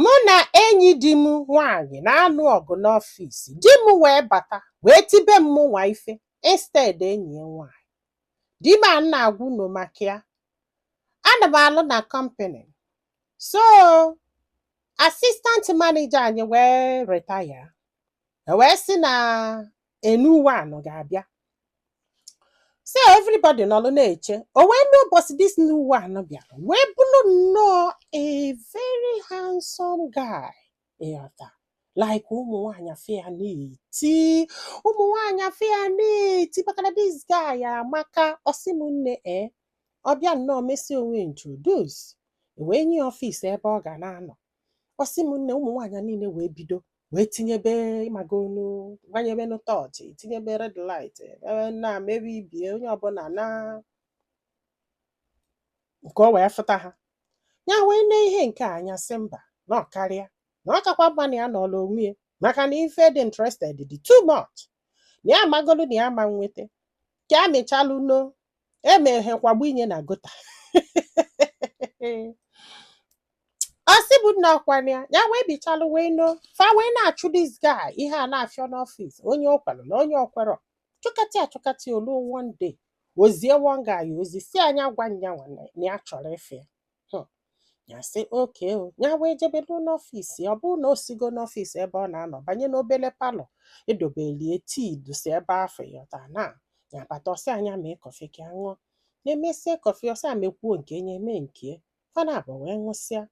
mụ na enyi di m nwaanyị na-anụ ọgụ n'ọfịs di m wee bata wee tibe m mụnwa ife instead enyi ya nwaanyị di m a m na-agwa unu maka ya ana m alụ na company so assistant manager anyị wee retire e wee sị na a new one ga-abịa so everybody nọlụ na-eche o wee mee ụbọchị this new one bịara wee bụrụ nnọọ a very handsome guy ịghọta like ụmụ nwaanyị afụ ya na-eti ụmụ nwaanyị afụ ya na-eti maka na this guy amaka ọ sị m nne e ọ bịa nnọọ mesịa onwe ya introduce e wee nye ya ọfịs ebe ọ ga na-anọ ọ sị m nne ụmụ nwaanyị niile wee bido wee tinyebe ị magonụ gbanyebe nụ tọọchị tinyebe red light na mebe ibie onye ọbụla na nke o wee fụta ha ya wee nee ihe nke a anya sị mba na ọ karịa na ọ kakwa mma na ya nọọlụ onwe ya maka na ife dị interested dị too much na ya amagolu na ya ama nweta ka ya mechalụ nọ emeghe kwagbu inye na ịghọta ọ sị m nna ọkwa nya ya wee bichalụ wee nọ fa wee na-achụ this guy ihe a na-afịọ n'ọfịs onye o kwelu na onye o kwerọ chụkata achụkata o lue one day o zie one guy ozi sị ya nya gwa nyanwa na ya chọrọ ịfụ ya hmm. ya sị okay ya wee jebelu n'ọfịs ya ọ bụrụ na o sigo n'ọfịs ebe ọ na-anọ banye n'obele palọ e dobelu ya tii dusi ebe afụ ịghọta na ya bata ọ sị ya nya mee kọfị ka ya ṅụọ nya emesịa kọfị ọ sị ya mekwuo nke ya nya emee nke ya fa naabọ wee ṅụsịa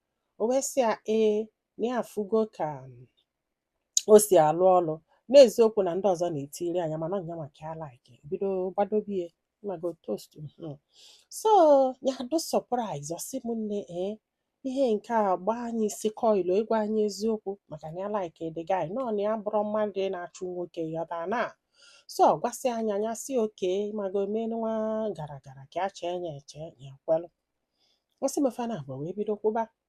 o wee sị ya ee na ya afụgo ka o si alụ ọlụ n'eziokwu na ndị ọzọ na-etiri anya mana nya maka ya like bido gbadobe ya ị mago toast mhm. so ya dị surprise ọ sị m nne ee ihe nke a gbaa anyị isi kọịlụ ịgwa anyị eziokwu maka na ya like the guy mana ya abụrọ mmadụ na-achụ nwoke ịghọta na so ọ gwasịa nya nya sị okay ị mago menụ nwa gara gara ka ya chee nya eche ya kwelụ ọ sị m fa naabọ wee bido kwụba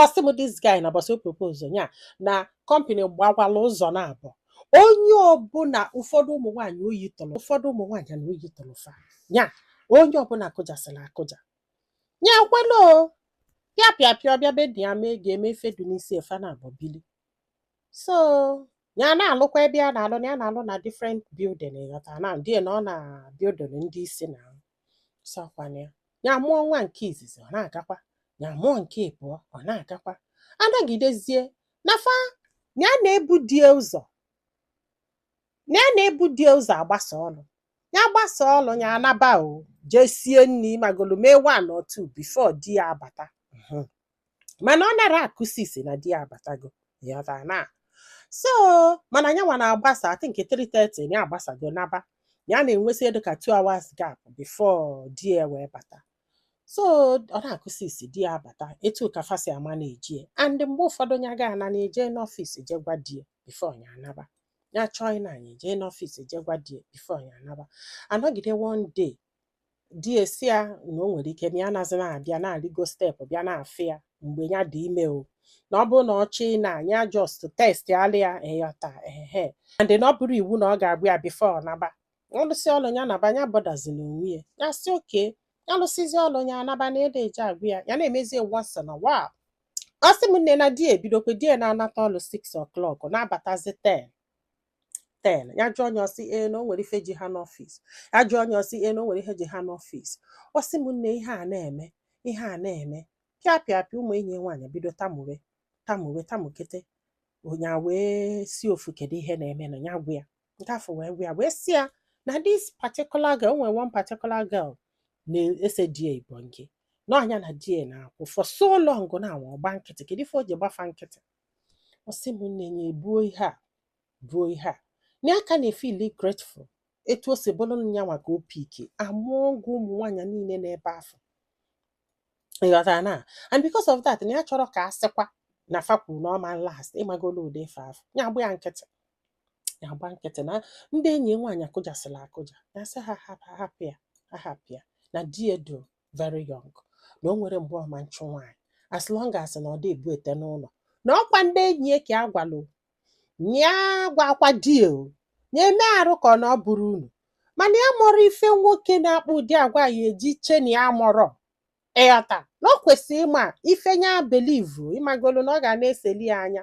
ọ sị m this guy na mbọsị ọ propose nya na company gbawalụ ụzọ naabọ onye ọbụla ụfọdụ ụmụ nwaanyị oyi tụrụ ụfọdụ ụmụ nwaanyị na oyi tụrụ fa nya onye ọbụla kụjasịrị akụja nya kwelụ pịa pịa pịa ọ bịa be ndị ya mee ga-eme ife dị n'isi ya fa naabọ bili so ya na-alụkwa ebe a na-alụ na ya na-alụ na different building ịghọta na di ya na-anọ na building ndị isi na so ọkwa nya nya amụọ nwa nke izizi ọ na-agakwa ya amụọ nke ịbụọ ọ na-agakwa anagidezie na fa ya na-ebu di ya ụzọ ya na-ebu di ya ụzọ agbasa ọlụ ya agbasa ọlụ ya anaba o jee sie nni magolu mee one or two before di ya abata Mhm. mana ọ nara akụ six na di ya abatago ị ghọta na so mana nya nwa na-agbasa I think 3:30 ya agbasago naba ya na-enwezi ihe dụ ka 2 hours gap before di ya wee bata so ọ na-akụ six di ya abata etu ka fa si ama na-eji ya and mgbe ụfọdụ ya ga ana na-eje n'ọfịs je gwa di ya before ya anaba ya chọọ ịna nya ejee n'ọfịs je gwa di ya before ya anaba anọgide one day di ya sị ya na o nwere ike na ya nazi na-abịa na-arịgo step bịa na-afụ ya mgbe ya dị ime o na ọ bụrụ na ọ chọọ ịna ya just text ala ya ị ghọta ehe and na ọ bụrọ iwu na ọ ga-agwa ya before ọ naba ọ lụsịa ọlụ ya naba ya bọdazina onwe ya ya sị okay ya lụsịzi ọlụ ya anaba na ede eje agwa ya ya na-emezi once in a while ọ sị m nne na di ebidokwe di ya na-anata ọlụ 6 o'clock na-abatazi 10 ten ya jụọ nya ọ sị ee na o nwere ife ji ha n'ọfịs ya jụọ nya ọ sị ee na o nwere ihe ji ha n'ọfịs ọ sị m nne ihe a na-eme ihe a na-eme pịa pịa pịa ụmụ enyi ya nwaanyị bido tamuwe tamuwe tamukata nya wee sị ofu kedu ihe na-eme na ya gwa ya nke afụ wee gwa ya wee sị ya na this particular girl o nwere one particular girl na-ese di ya ibo nke na ọ nya na di ya na-akwụ for so long now ọ gba nkịtị kedu ife o ji gba fa nkịtị ọ sị m nne ya ebuo ihe a buo ihe a na ya ka na-efili grateful etu o si bụrụ nya nwa ka o piki among ụmụ nwaanyị niile n'ebe afụ ị ghọtara na and because of that na ya achọrọ ka a sịkwa na fa kwuru na ọ ma last ị magolu ụdị ife afụ ya agba ya nkịtị ya agba nkịtị na ndị enyi ya nwaanyị akụjasịla akụja ya sị ha hapụ hapụ ya ha hapụ ya na di ya dụ very young na o nwerọ mgbe ọ ma nchụ nwaanyị as long as na ọ dị ebute n'ụlọ na ọ kwa ndị enyi ya ka a gwalụ ya gwakwa di ya o ya eme arụ ka ọ na ọ bụrụ unu mana ya amarọ ife nwoke na-akpa ụdị agwa a ji eche na ya amarọ ị ghọta na ọ kwesịrị ịma ife ya belivu ị magolu na ọ ga na-eseli ya anya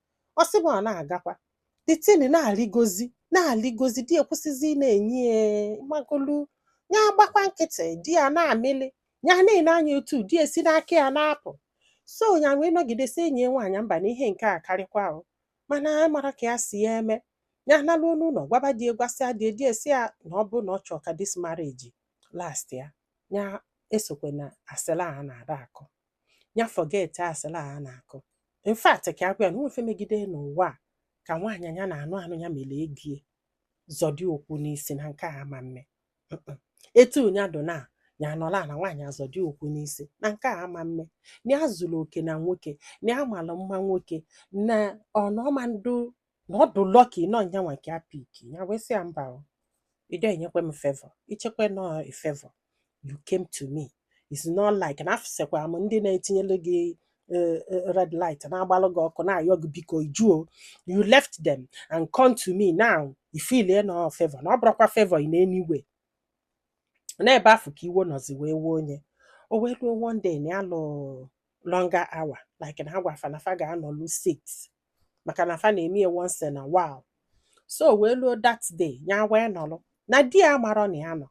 ọ sị m ọ na-agakwa the thing na-arịgozi na-arịgozi di ya kwụsịzi ị na-enye ya ị magolu ya agbakwa nkịtị di ya na-amịlị ya na-ele anya otu di ya si n'aka ya na-apụ so ya wee nọgide sị enyi ya nwaanyị mba na ihe nke a akarịkwa o mana a mara ka ya si ya eme ya analuo n'ụlọ gwaba di ya gwasịa di ya di ya sị ya na ọ bụ na ọ chọọ ka this marriage lastịa ya esokwana asịlị a na-ada akụ ya forget asịlị a na-akụ in fact ka ya gwa ya na o nwe ife megide n'ụwa a ka nwaanyị nya na-anụ anụ ya mere egie zọdo ụkwụ n'isi na nke a ama mme Mm-mm. etu nya dụ na ya anọla na nwaanyị azọdo ụkwụ n'isi na nke a ama mme na ya zuru oke na nwoke na ya mara mma nwoke na ọnọma ndụ na ọ dị lucky na ọ nyanwa ka a piki ya wee sị ya mba o ị dị enyekwa m favor i chekwa na ọ favor you came to me it's not like na afụsikwara m ndị na-etinyelu gị eh, eh, red light na-agbalụ gị ọkụ na-ayọ gị biko ị jụọ you left them and come to me now i filie na ọ favor na ọ bụrọkwa favor in any way n'ebe afụ ka iwe nọzi wee wuo nye o wee ruo one day na ya lụ longer hour like na a gwa fa na fa ga-anọlu 6 maka na fa na-eme ya once in a while so wee luo that day ya wee nọlụ na di ya marọ na ya nọ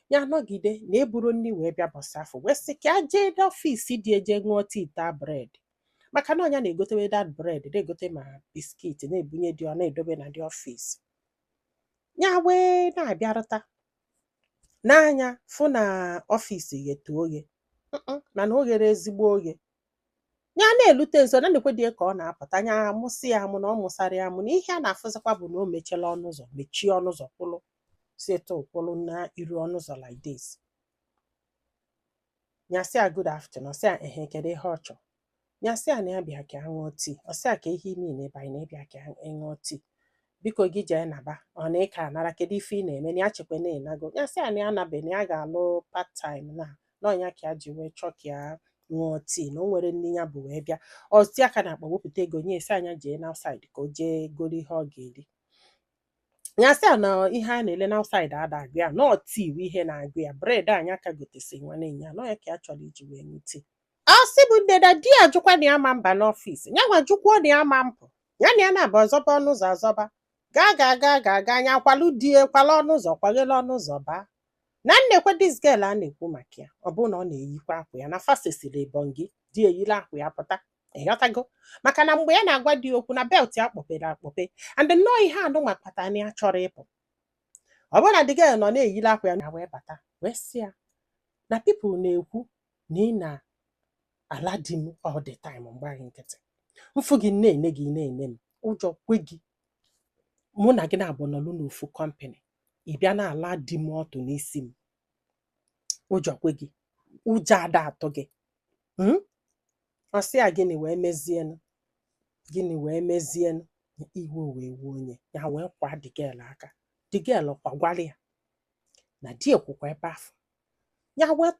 ya nọgide na eburo nri wee bịa ụbọsị afụ wee sị ka ya jee n'office di ya je ṅụọ tii taa bread maka na ọ nya na-egotewe that bread na-egote ma biscuit na-ebunye di ọ na-edobe na the office ya wee na-abịarụta nee anya fụ na office ghetụ oghe Mm-mm, mana o ghero ezigbo oghe ya na-elute nso na nekwe di ya ka ọ na-apụta nya amụsa ya amụ na ọ mụsarọ ya amụ na ihe ya na-afụzikwa bụ na o mechela ọnụ ụzọ mechie ọnụ ụzọ kwụlụ setụ kwụlụ na iru ọnụ ụzọ like this nya sị ya good afternoon ọ sị ya ehe kedu ihe ọ chọrọ nya sị ya na ya bịa ka ya ṅụọ tii ọ sị ya kee ihe i me n'ebe a na ị bịa ka ị ṅụọ tii biko gị jee naba ọ na ị ka anarọ kedu ife ị na-eme na ya chekwa na ị nago nya sị ya na ya anabe na ya ga-alụ part time na ọ nya ka ya ji wee chọọ ka ya ṅụọ tii na o nwero nni ya bu wee bịa o tie aka n'akpa wepụta ego nye ya sị nya jee n'outside ka o jee goro ihe ọ ga-eri nya sị ya na ihe a na-ele n'outside ada agụ ya na ọ tii bụ ihe na-agụ ya bread nya ka gotesi nwanne ụnyaa na ọ nya ka ya chọrọ iji wee ṅụ tii ọ sị bụ nne na di ya jụkwa na ya ma mba n'office ya nwa jụkwuo na ya ma mpụ ya na ya naabọ zọba ọnụ ụzọ azọba gaa gaa gaa gaa gaa nya kwalu di ya kwala ọnụ ụzọ kwaghela ọnụ ụzọ baa na nekwe this girl a na-ekwu maka ya ọ bụrụ na ọ na-eyikwa akwa ya na fa sesiri ebongi di eyila akwa ya pụta ị ghọtago maka na mgbe ya na-agwa di okwu na belt ya kpọpere akpọpe and nnọọ ihe anụnwa kpatara na ya chọrọ ịpụ ọ bụrụ na the girl nọ na-eyiri akwa ya nya wee bata wee sị ya na people na-ekwu na ị na-ala di m all the time m gba gị nkịtị m fụ gị na-ene gị na-ene m ụjọ kwe gị mụ na gị naabọ nọlụ n'ofu company ị bịa na-ala di m ọtụ n'isi m ụjọ kwe gị ụjọ ada atụ gị mm? ọ sị ya gịnị wee mezienụ gịnị wee mezienụ iwe wee wuo nye ya wee kwaa the girl aka the girl kwagwara ya na di ya kwụkwa ebe afụ ya wee tụ